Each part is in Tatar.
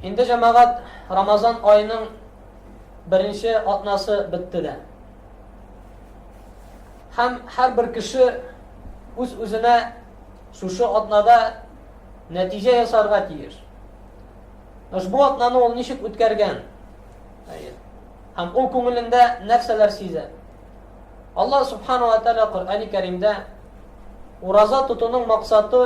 Инде җәмәгать Рамазан аеның беренче атнасы бетте дә. Һәм һәрбер кеше үз-үзенә шушы атнада нәтиҗә ясарга тиеш. Ошбу атнаны ул ничек үткәргән? Һәм ул күңелендә нәрсәләр сизә? Алла субхану ва тааля Коръәни Кәримдә ураза тотуның максаты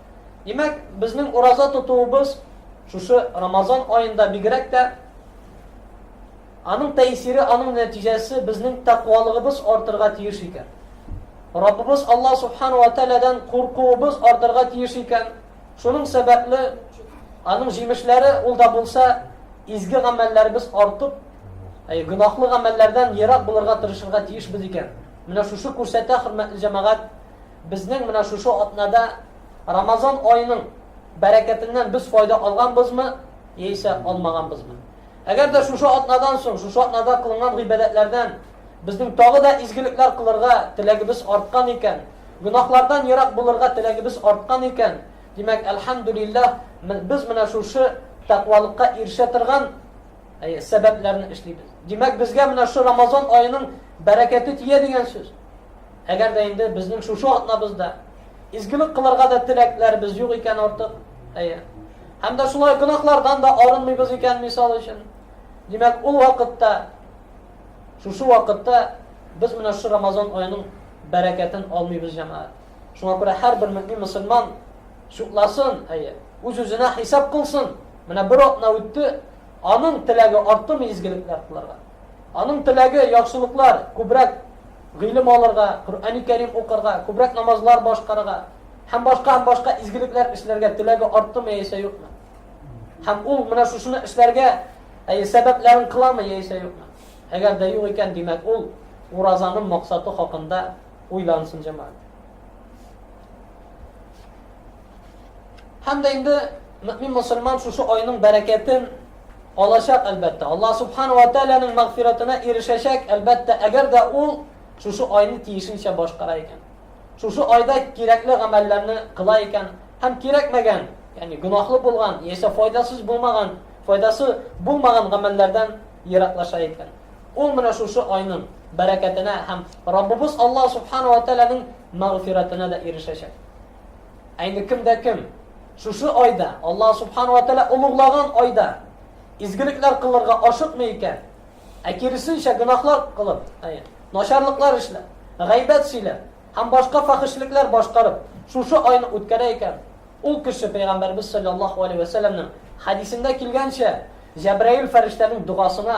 Димәк, безнең ураза тотуыбыз шушы Рамазан аенда бигрәк тә аның тәэсире, аның нәтиҗәсе безнең тәкъвалыгыбыз артырга тиеш икән. Раббыбыз Алла субхану ва тааладан куркуыбыз артырга тиеш икән. Шуның сәбәпле аның җимешләре ул да булса изге гамәлләребез артып, әй гөнаһлы гамәлләрдән ерак булырга тырышырга тиешбез икән. Менә шушы күрсәтә хөрмәтле җәмәгать Безнең менә шушы атнада Рамазан аеның бәрәкәтеннән без файда алганбызмы, яисә алмаганбызмы? Әгәр дә шушы атнадан соң, шушы атнада кылынган гыйбадәтләрдән безнең тагы да изгелекләр кылырга теләгебез арткан икән, гөнаһлардан ерак булырга теләгебез арткан икән, димәк, әлхәмдүлилләһ, без менә шушы тәкъвалыкка ирешә торган сәбәпләрне эшлибез. Димәк, безгә менә шушы Рамазан аеның бәрәкәте тия дигән сүз. Әгәр дә инде безнең шушы атнабызда изгелек кылырга да теләкләребез юк икән артык, әйе. Һәм дә шулай гөнаһлардан да арынмыйбыз икән, мисал өчен. Димәк, ул вакытта, шушы вакытта без менә шушы Рамазан аеның бәрәкәтен алмыйбыз, җәмәгать. Шуңа күрә һәрбер мөмин мусульман шукласын, әйе, үз-үзенә хисап кылсын. Менә бер атна үтте, аның теләге артымы изгелекләр кылырга? Аның теләге, яхшылыклар, күбрәк гыйлем алырга, Коръәни Кәрим укырга, күбрәк намазлар башкарырга һәм башка һәм башка изгелекләр эшләргә теләге арттымы яисә юкмы? Һәм ул менә шушыны эшләргә әйе сәбәпләрен кыламы яисә юкмы? Әгәр дә юк икән, димәк, ул уразаның максаты хакында уйлансын җәмәгать. Һәм дә инде мөмин мусульман шушы айның бәрәкәтен Алачак, әлбәттә. Аллаһ Субхана вә Тәгаләнең мәгъфирәтенә ирешәчәк, әлбәттә, әгәр дә ул шушы айны тиешенчә башкара икән. Шушы айда кирәкле гамәлләрне кыла икән һәм кирәкмәгән, ягъни гөнаһлы булган, яисә файдасыз булмаган, файдасы булмаган гамәлләрдән ераклаша икән. Ул менә шушы айның бәрәкәтенә һәм Раббыбыз Аллаһ Субхана вә Тәгаләнең мәгъфирәтенә дә ирешәчәк. Ә инде кем дә кем шушы айда, Аллаһ субхана ва тәала олуглаган айда изгелекләр кылырга ашыкмый икән, ә киресенчә гөнаһлар кылып, начарлыклар эшләп, гайбәт сөйләп һәм башка фахишлекләр башкарып, шушы айны үткәрә икән, ул кеше пәйгамбәрбез саллаллаһу алейһи ва сәлламның хәдисендә килгәнчә, Җәбраил фәрештәнең догасына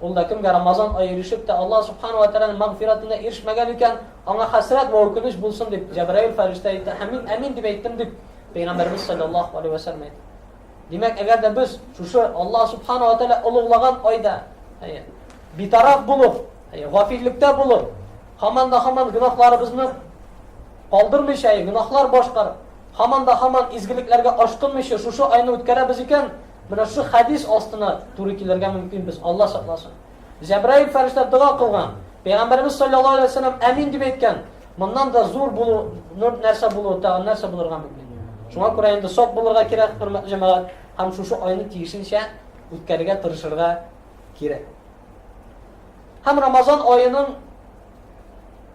Ул да кемгә Рамазан ае ирешеп тә, Аллаһ Сүбхәнәһү вә Тәгаләнең мәгъфирәтенә ирешмәгән икән, аңа хәсрәт вә үкенеч булсын дип, Җәбраил фәрештә әйтте һәм мин әмин дип әйттем, дип Пәйгамбәребез салләллаһу алейһи вә сәлләм әйтте. Димәк, әгәр дә без шушы Аллаһ Сүбхәнәһү вә Тәгалә олуглаган айда, әйе, битараф булып, әйе, гафиллектә булып, һаман да һаман гөнаһларыбызны калдырмыйча, әйе, гөнаһлар башкарып, һаман да һаман изгелекләргә ашкынмыйча шушы айны үткәрәбез икән, Менә шул хәдис астына туры килергә мөмкин без, Алла сакласын. Җәбраил фәрештә дога кылган. Пәйгамбәрбез саллаллаһу алейһи ва сәлләм әмин дип әйткән. Моннан да зур булу, нур нәрсә булу, тагын нәрсә булырга мөмкин. Шуңа күрә инде сак булырга кирәк, хөрмәтле җәмәгать, һәм шушы айны тиешенчә үткәрергә тырышырга кирәк. Һәм Рамазан аеның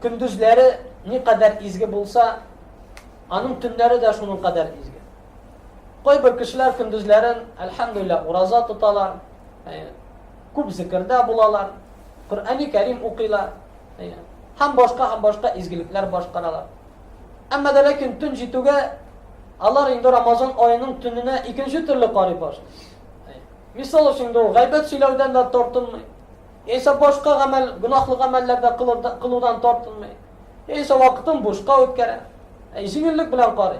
көндезләре ни кадәр изге булса, аның төннәре дә шуның кадәр изге. Кайбер кешеләр көндезләрен, әлхәмдүлилләһ, ураза тоталар, күп зикердә булалар, Коръәни Кәрим укыйлар, һәм башка һәм башка изгелекләр башкаралар. Әмма дә ләкин төн җитүгә алар инде Рамазан аеның төненә икенче төрле карый башлый. Мисал өчен, ул гайбәт сөйләүдән дә тартынмый. Эйса башка гамәл, гөнаһлы гамәлләр дә кылудан тартынмый. Эйса вакытын бушка үткәрә. Әй җиңеллек белән карый.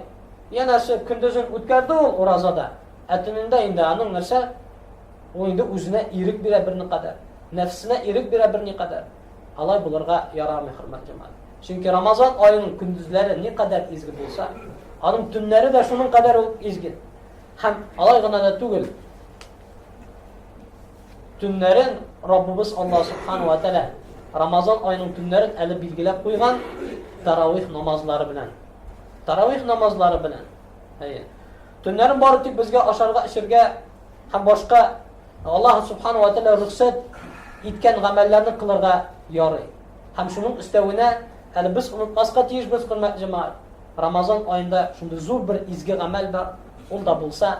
Янәсе көндезен үткәрде ул уразада. Ә төнендә инде аның нәрсә? Ул инде үзенә ирек бирә берни кадәр. Нәфсенә ирек бирә берни кадәр. Алай булырга ярамый, хөрмәт җәмәгать. Чөнки Рамазан аеның көндезләре ни кадәр изге булса, аның төннәре дә шуның кадәр үк изге. Һәм алай гына да түгел. Төннәрен Раббыбыз Аллаһ Субхану ва Тәгалә Рамазан аеның төннәрен әле билгеләп куйган таравих намазлары белән. Таравих намазлары белән. Әйе. Төннәрен бары тик безгә ашарга, эчәргә һәм башка Аллаһ Субхану ва Тәгалә рөхсәт иткән гамәлләрне кылырга ярый. Һәм шуның өстәвенә әле без онытмаска тиеш без хөрмәт җәмәгать. Рамазан аенда шундый зур бер изге гамәл бар, ул да булса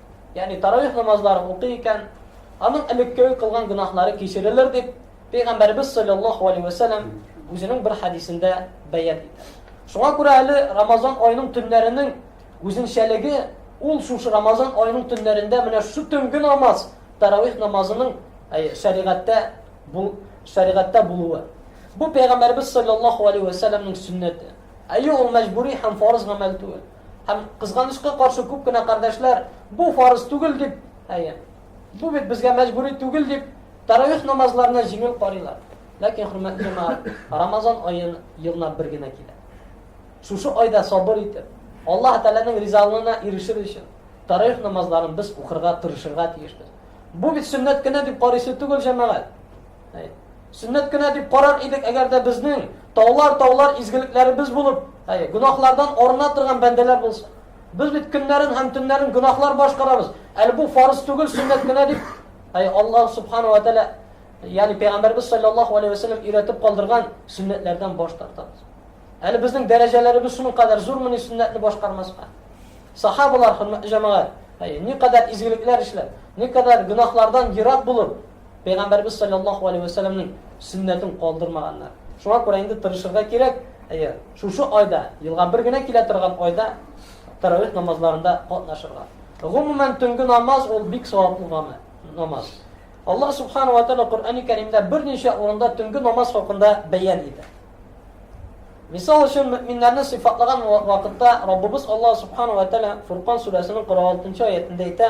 Ягъни таравих намазларын укый икән, аның элеккеге кылган гөнаһлары кичерелер дип, Пәйгамбәребез саллаллаһу алейһи ва сәлләм үзенең бер хәдисендә бәян итә. Шуңа күрә әле Рамазан аеның төннәренең үзенчәлеге ул шушы Рамазан аеның төннәрендә менә шу төнге намаз, таравих намазының шәригатьтә бу шәригатьтә булуы. Бу Пәйгамбәребез саллаллаһу алейһи ва сәлләмнең сөннәте. Әйе, ул мәҗбүри һәм фарыз гамәл түгел. Һәм кызганычка каршы күп кенә кардәшләр бу фарыз түгел дип, әйе, бу бит безгә мәҗбүри түгел дип, таравих намазларына җиңел карыйлар. Ләкин хөрмәтле җәмәгать, Рамазан аен елна бер генә килә. Шушы айда сабыр итеп, Аллаһ Тәгаләнең ризалыгына ирешер өчен таравих намазларын без укырга тырышырга тиешбез. Бу бит сөннәт кенә дип карыйсы түгел җәмәгать. Сөннәт кенә дип карар идек, әгәр дә безнең таулар-таулар изгелекләребез булып, әй, гөнаһлардан арына торган бәндәләр булса. Без бит көннәрен һәм төннәрен гөнаһлар башкарабыз. Әле бу фарыз түгел, сөннәт кенә дип, әй, Аллаһ субхану ва тааля, ягъни пәйгамбәрбез саллаллаһу алейхи ва саллям өйрәтеп калдырган сөннәтләрдән баш тартабыз. Әле безнең дәрәҗәләребез шуның кадәр зурмы ни сөннәтне башкармаска? Сахабалар, хөрмәтле җәмәгать, әй, ни кадәр изгелекләр эшләп, ни кадәр гөнаһлардан ерак булып, Пәйгамбәрбез салләллаһу алейһи вә сәлләмнең сөннәтен калдырмаганнар. Шуңа күрә инде тырышырга кирәк. Әйе, шушы айда, елга бер генә килә торган айда таравих намазларында катнашырга. Гомумән, төнге намаз ул бик саваплы гамәл, намаз. Аллаһ субхана ва тааля Коръәни Кәримдә берничә урында төнге намаз хакында бәян итә. Мисал өчен, мөэминнәрне сыйфатлаган вакытта Раббыбыз Аллаһ субхана ва тааля Фуркан сүрәсенең 46 нчы аятендә әйтә: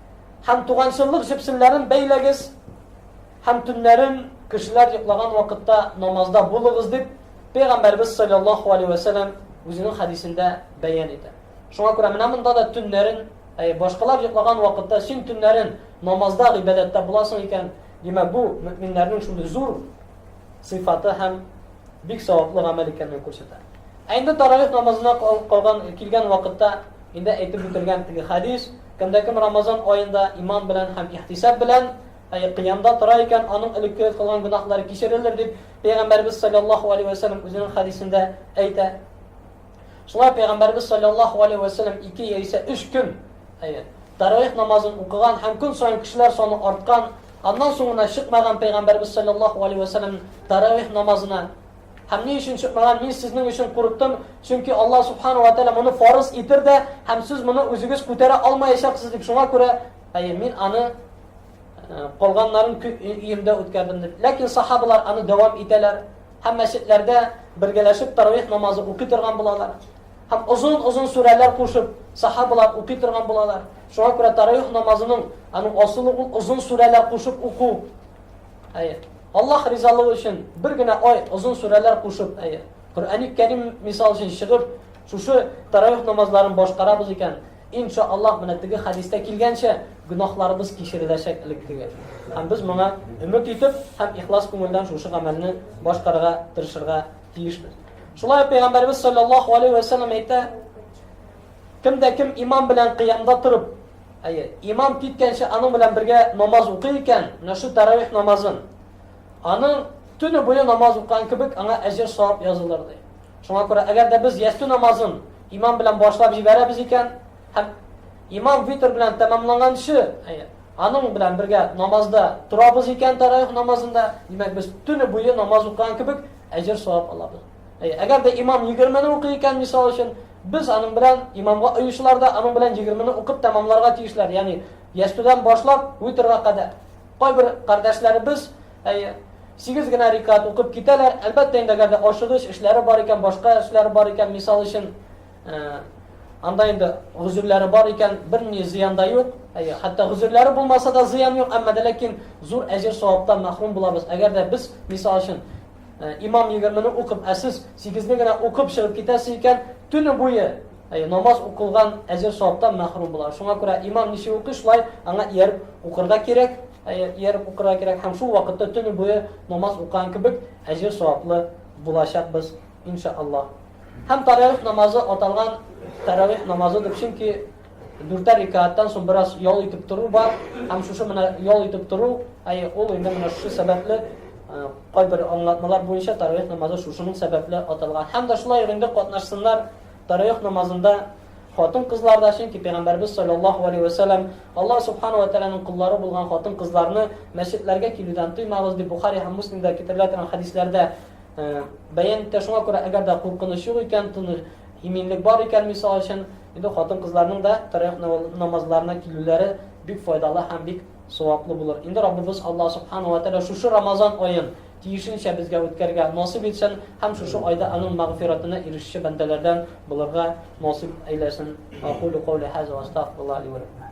Һәм туганчыллык җепсемнәрен бәйләгез, һәм төннәрен, кешеләр йоклаган вакытта, намазда булыгыз, дип Пәйгамбәрбез саллаллаһу алейһи вә сәлләм үзенең хәдисендә бәян итә. Шуңа күрә менә монда да төннәрен, әй, башкалар йоклаган вакытта син төннәрен намазда, гыйбадәттә буласың икән, димәк, бу мөэминнәрнең шундый зур сыйфаты һәм бик саваплы гамәл икәнен күрсәтә. Ә инде таравих намазына калган килгән вакытта Инде әйтеп үтелгән теге хәдис, кемдә кем Рамазан аенда иман белән һәм ихтисаб белән, әй, кыямда тора икән, аның элекке кылган гөнаһлары кичерелер, дип Пәйгамбәрбез саллаллаһу алейһи вә сәлләм үзенең хәдисендә әйтә. Шулай Пәйгамбәрбез саллаллаһу алейһи вә сәлләм ике яисә өч көн, әй, таравих намазын укыган һәм көн саен кешеләр саны арткан, аннан соң гына чыкмаган Пәйгамбәрбез саллаллаһу алейһи вә сәлләм таравих намазына Һәм ни өчен чыкмаган? Мин сезнең өчен курыктым, чөнки Аллаһ Субхана ва Тәгалә моны фарыз итер дә, һәм сез моны үзегез күтәрә алмаячаксыз дип, шуңа күрә, әйе, мин аны э, калганнарын өемдә үткәрдем дип. Ләкин сахабалар аны дәвам итәләр һәм мәчетләрдә бергәләшеп таравих намазы укый торган булалар. Һәм озын-озын сүрәләр кушып, сахабалар укый торган булалар. Шуңа күрә таравих намазының аның асылы ул озын сүрәләр кушып уку. Әйе. Аллаһ ризалыгы өчен бер генә ай озын сүрәләр кушып, әйе. Коръәни Кәрим мисал өчен чыгып, шушы таравих намазларын башкарабыз икән, инша Аллаһ менә теге хәдистә килгәнчә гөнаһларыбыз кичереләчәк элеккеге. Һәм без моңа өмет итеп һәм ихлас күңелдән шушы гамәлне башкарырга тырышырга тиешбез. Шулай ук пәйгамбәрбез саллаллаһу алейхи ва саллям әйтә, кем дә кем имам белән кыямда торып, Әйе, имам киткәнче аның белән бергә намаз укый икән, менә шу тәравих намазын. Аның төне буе намаз укыган кебек аңа әҗер савап язылыр ди. Шуңа күрә, әгәр дә без ястү намазын имам белән башлап җибәрәбез икән, һәм имам витр белән тәмамланганчы, әйе, аның белән бергә намазда торабыз икән тәравих намазында, димәк, без төне буе намаз укыган кебек әҗер савап алабыз. Әй, әгәр дә имам 20-не укый икән, мисал өчен, без аның белән имамга оючылар да аның белән 20-не укып тәмамларга тиешләр, ягъни ястүдән башлап уйтерга кадәр. Кайбер кардәшләребез, әй, 8 генә рикат укып китәләр. Әлбәттә инде әгәр дә ашыгыч эшләре бар икән, башка эшләре бар икән, мисал өчен, э, анда инде гозерләре бар икән, берни зыян да юк. Әй, хәтта гозерләре булмаса да зыян юк, әмма дә ләкин зур әҗер саваптан мәхрүм булабыз. Әгәр дә без, мисал өчен, Имам егермене укып, ә сез сигезне генә укып чыгып китәсе икән, төне буе намаз укылган әҗер саваптан мәхрүм була. Шуңа күрә имам ничек укый, шулай аңа ияреп укырга кирәк, ияреп укырга кирәк һәм шул вакытта төне буе намаз укыган кебек әҗер саваплы булачакбыз, иншааллаһ. Һәм таравих намазы аталган таравих намазы дип, чөнки Дүртәр рикааттан соң бераз ял итеп тору бар, һәм шушы менә ял итеп тору, әйе, ул инде менә шушы сәбәпле кайбер аңлатмалар буенча тарих намазы шушының сәбәпле аталган. Һәм дә шулай инде катнашсыннар тарих намазында хатын-кызлар да, чөнки пәйгамбәрбез саллаллаһу алейхи ва саллям Аллаһ субхану ва тааляның куллары булган хатын-кызларны мәчетләргә килүдән тыймагыз дип Бухари һәм Муслимда китерелә торган хәдисләрдә бәян итә. Шуңа күрә әгәр дә куркыныч юк икән, иминлек бар икән, мисал өчен, Инде хатын-кызларның да тәрәвих намазларына килүләре бик файдалы һәм бик саваплы булыр. Инде Раббыбыз Аллаһ Субхана ва Тәгалә шушы Рамазан аен тиешенчә безгә үткәргә насыйп итсен һәм шушы айда аның мәгъфиратына ирешүче бәндәләрдән булырга насыйп әйләсен. Акулу каули хаза ва астагфируллаһ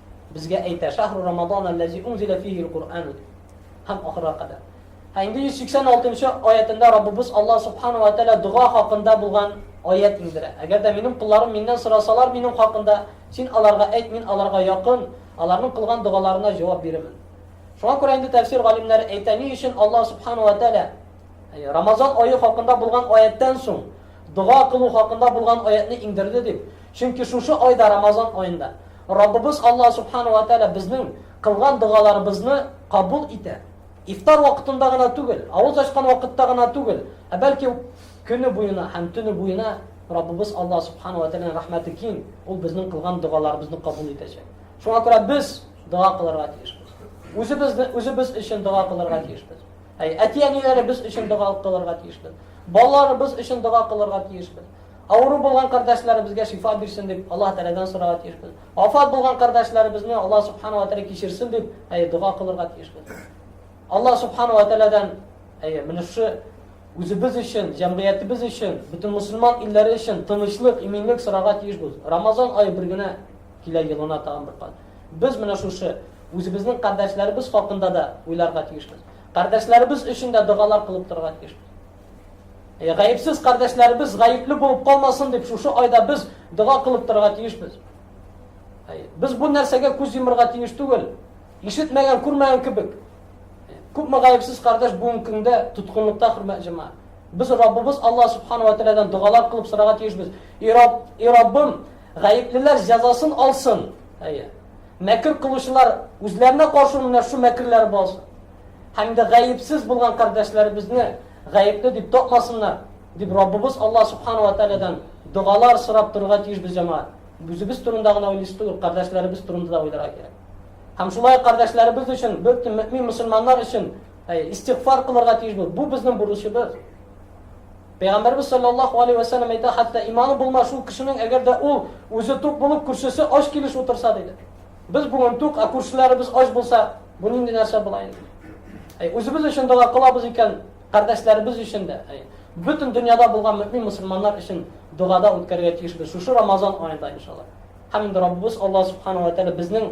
Безгә әйтә, Шәһрү Рамадан әлләзи унзилә фиһи л-Коръәну дип. Һәм ахырга кадәр. Ә инде 186 нчы аятендә Раббыбыз Аллаһ Субхана вә Тәгалә дога хакында булган аять иңдерә. Әгәр дә минем колларым миннән сорасалар минем хакында, син аларга әйт, мин аларга якын, аларның кылган догаларына җавап бирермен. Шуңа күрә инде тәфсир галимнәре әйтә, ни өчен Аллаһ Субхана вә Тәгалә Рамазан ае хакында булган аяттән соң дога кылу хакында булган аятьне иңдерде дип. Чөнки шушы айда, Рамазан аенда, Раббыбыз Аллаһ Субхана уа Тәгалә безнең кылган догаларыбызны кабул итә. Ифтар вакытында гына түгел, авыз ачкан вакытта гына түгел, ә бәлки көне буена һәм төне буена Раббыбыз Аллаһ Субхана уа Тәгаләнең рәхмәте киң, ул безнең кылган догаларыбызны кабул итәчәк. Шуңа күрә без дога кылырга тиешбез. Үзебезне үзебез өчен дога кылырга тиешбез. Әй, әти-әниләребез өчен дога кылырга тиешбез. Балаларыбыз өчен дога кылырга тиешбез. Авыру булган кардәшләребезгә шифа бирсен дип, Аллаһ Тәгаләдән сорарга тиешбез. Вафат булган кардәшләребезне Аллаһ Субхана ва Тәгалә кичерсен дип, әйе, дога кылырга тиешбез. Аллаһ Субхана ва Тәгаләдән, әйе, менә шушы үзебез өчен, җәмгыятебез өчен, бөтен мусульман илләре өчен тынычлык, иминлек сорарга тиешбез. Рамазан ае бер генә килә елына тагын бер кат. Без менә шушы үзебезнең кардәшләребез хакында да уйларга тиешбез. Кардәшләребез өчен дә догалар кылып торырга тиешбез. Гаепсез кардәшләребез гаепле булып калмасын дип, шушы айда без дога кылып торырга тиешбез. Без бу нәрсәгә күз йомырга тиеш түгел. Ишетмәгән, күрмәгән кебек. Күпме гаепсез кардәш бүгенге көндә тоткынлыкта хөрмәт җәмәгать. Без Раббыбыз Алла субхану ва таалядан догалар кылып сорарга тиешбез. И Рабб, и Раббым, гаеплеләр җәзасын алсын. Әйе. Мәкер кылучылар үзләренә каршы менә шу мәкерләр булсын. һәм дә гаепсез булган кардәшләребезне гаепле дип тапмасыннар, дип Раббыбыз Алла Субхану ва Таалядан догалар сорап торырга тиеш без җәмәгать. Үзебез турында гына уйлыйсы түгел, кардәшләребез турында да уйларга кирәк. Һәм шулай кардәшләребез өчен, бөтен мөмин мусульманнар өчен истигъфар кылырга тиеш бу. Бу безнең бурычыбыз. Пәйгамбәрбез саллаллаху алейхи ва саллям әйтә, хәтта иманы булмас шул кешенең, әгәр дә ул үзе тук булып, күршесе ач килеш утырса, диде. Без бүген тук, ә күршеләребез ач булса, бу нинди нәрсә була инде? Әй, үзебез өчен дога кылабыз икән, кардәшләребез өчен дә, әй, бөтен дөньяда булган мөмин мусульманнар өчен догада үткәрергә тиешбез шушы Рамазан аенда иншалла. Һәм инде Раббыбыз Алла субхана ва тәгалә безнең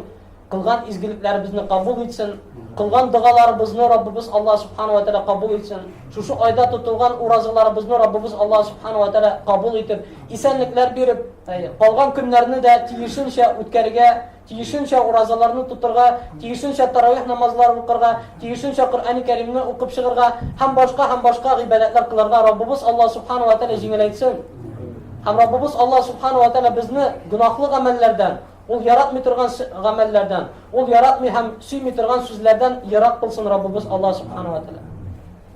кылган изгелекләребезне кабул итсен, кылган догаларыбызны Раббыбыз Алла субхана ва тәгалә кабул итсен. Шушы айда тотылган уразаларыбызны Раббыбыз Алла субхана ва тәгалә кабул итеп, Исәнлекләр биреп, калган көннәрне дә тиешенчә үткәрергә, тиешенчә уразаларны тотырга, тиешенчә таравих намазларын укырга, тиешенчә Коръәни Кәримне укып чыгарга һәм башка һәм башка гыйбадәтләр кылырга Раббыбыз Аллаһ Субхана ва Тәгалә җиңеләйтсен. Һәм Раббыбыз Аллаһ Субхана ва Тәгалә безне гөнаһлы гамәлләрдән, ул яратмый торган гамәлләрдән, ул яратмый һәм сөйми торган сүзләрдән ерак кылсын Раббыбыз Аллаһ Субхана ва Тәгалә.